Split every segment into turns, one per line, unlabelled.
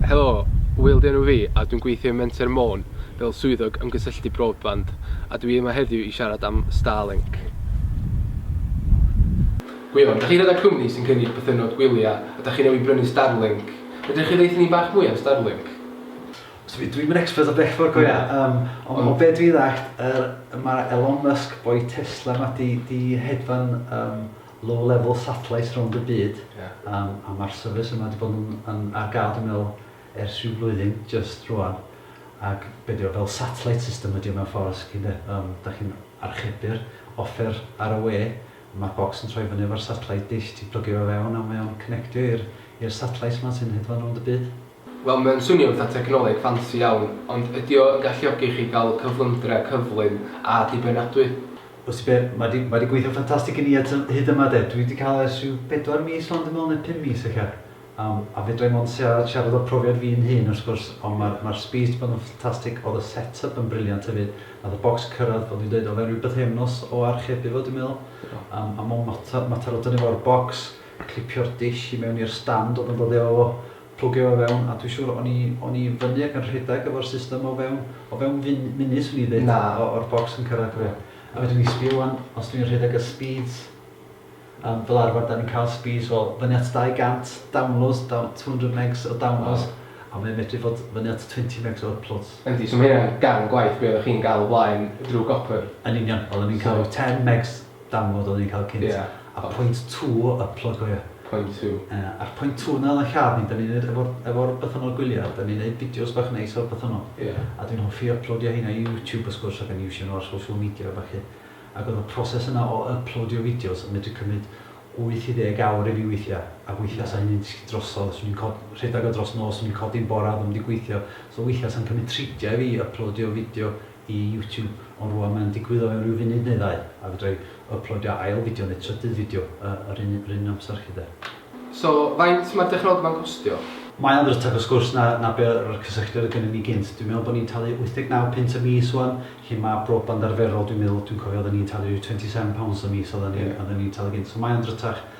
Helo, Wil 'di enw fi a dwi'n gweithio i Menter Môn fel Swyddog Ymgysylltu Broadband a dwi yma heddiw i siarad am Starlink. Gwion, dach chi gyda cwmni sy'n cynnig bythynnod gwylia a dach chi newydd brynu Starlink. Fedrwch chi ddeutha ni bach mwy am Starlink? Sori,
dwi'm yn expert o bell ffordd go ia, yym, ond o be' dwi ddallt yr ma' Elon Musk boi Tesla 'ma 'di 'di hedfan yym low level satellites rownd y byd a ma'r service yma wedi bod yn ar ga'l dwi'n meddwl ers rhyw flwyddyn jyst rwan ac be' di o fel satellite system ydi o mewn ffordd os chi de yym dach chi'n archebu'r offer ar y we ma'r bocs yn troi fyny efo'r satellite dish ti'n plygio fo fewn a mae o'n connectio i'r i'r satellites ma sy'n hedfan rownd y byd. Wel, mae o'n swnio'n
fatha technoleg ffansi iawn, ond ydy o yn galluogi chi gael cyflymdra cyflym a dibynadwy? O ti be,
mae 'di, mae 'di gweithio'n ffantastig i ni at y, hyd yma de. Dwi 'di cael e ers rhyw bedwar mis wan dwi'n meddwl, neu pum mis ella. Yym, a fedra i mond siarad, siarad o'r profiad fi'n hun wrth gwrs, ond ma'r, ma'r sbîs 'di bod yn ffantastig, o'dd y set-up yn briliant hefyd, nath y bocs cyrradd, fel dwi'n deud, o fewn rhyw bythefnos o archebu fo dwi'n meddwl, yym, a mond mater, mater o dynnu fo o'r bocs, clipio'r dish i mewn i'r stand o'dd yn dod efo fo, Plygio o fewn, a dwi siŵr o'n i, o'n i fyny ac yn rhedeg efo'r system o fewn, o fewn fun, munud swn i'n ddeud, Na. o, o'r bocs yn cyrraedd. Ie. A fedrwn ni sbio ŵan, os dwi'n rhedeg y speeds, yym, fel arfer 'dan ni'n cael speeds o fyny at 200 downloads, daw- 200 megs o downloads, a mae o'n medru fod fyny at 20 megs o uploads. Yndi, so ma' hynna'n ganol
gwaith be' oddach chi'n ga'l o blaen drw gopr. Yn union, oedden ni'n ca'l
ryw 10 megs, download oedden ni'n cael cynt. Ie. A point two o upload cofia. Point two. Ie, a'r
point two
na oedd yn lladd ni, da ni'n neud efo'r efo'r bythynnod gwyliau, da ni'n neud fideos bach neis o'r bythynnod. Ie. A dwi'n hoffi yplowdio heina i YouTube wrth gwrs ac yn iwsio nhw ar social media a ballu. Ac oedd y proses yna o yplowdio fideos yn medru cymryd wyth i ddeg awr i fi weithiau, a weithiau 'sa hynny'n disgyn drosodd, 'swn i'n co- rhedeg o dros nos, 'swn i'n codi'n bore a ddim wedi gweithio, so weithiau 'sa'n cymryd tridiau i fi yplowdio fideo i YouTube ond rwan mae'n digwydd o fewn rhyw funud neu ddau a fedra i yplodio ail fideo neu trydydd fideo yr un yr un amser chi de. So
faint mae'r dechrogfa'n costio? Mae o'n rytach wrth
gwrs na na be yr yr cysylltiad oedd gynnon ni gynt. Dwi'n meddwl bo ni'n talu 89 punt y mis ŵan lle ma broband arferol dwi'n meddwl dwi'n cofio odda ni'n talu ryw 27 pounds y mis odda ni odda ni'n talu gynt so mae o'n rytach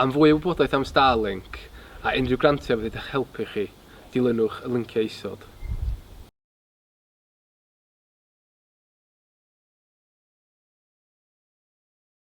Am fwy o wybodaeth am Starlink a unrhyw grantiau fydd wedi'ch helpu chi, dilynwch y linciau isod.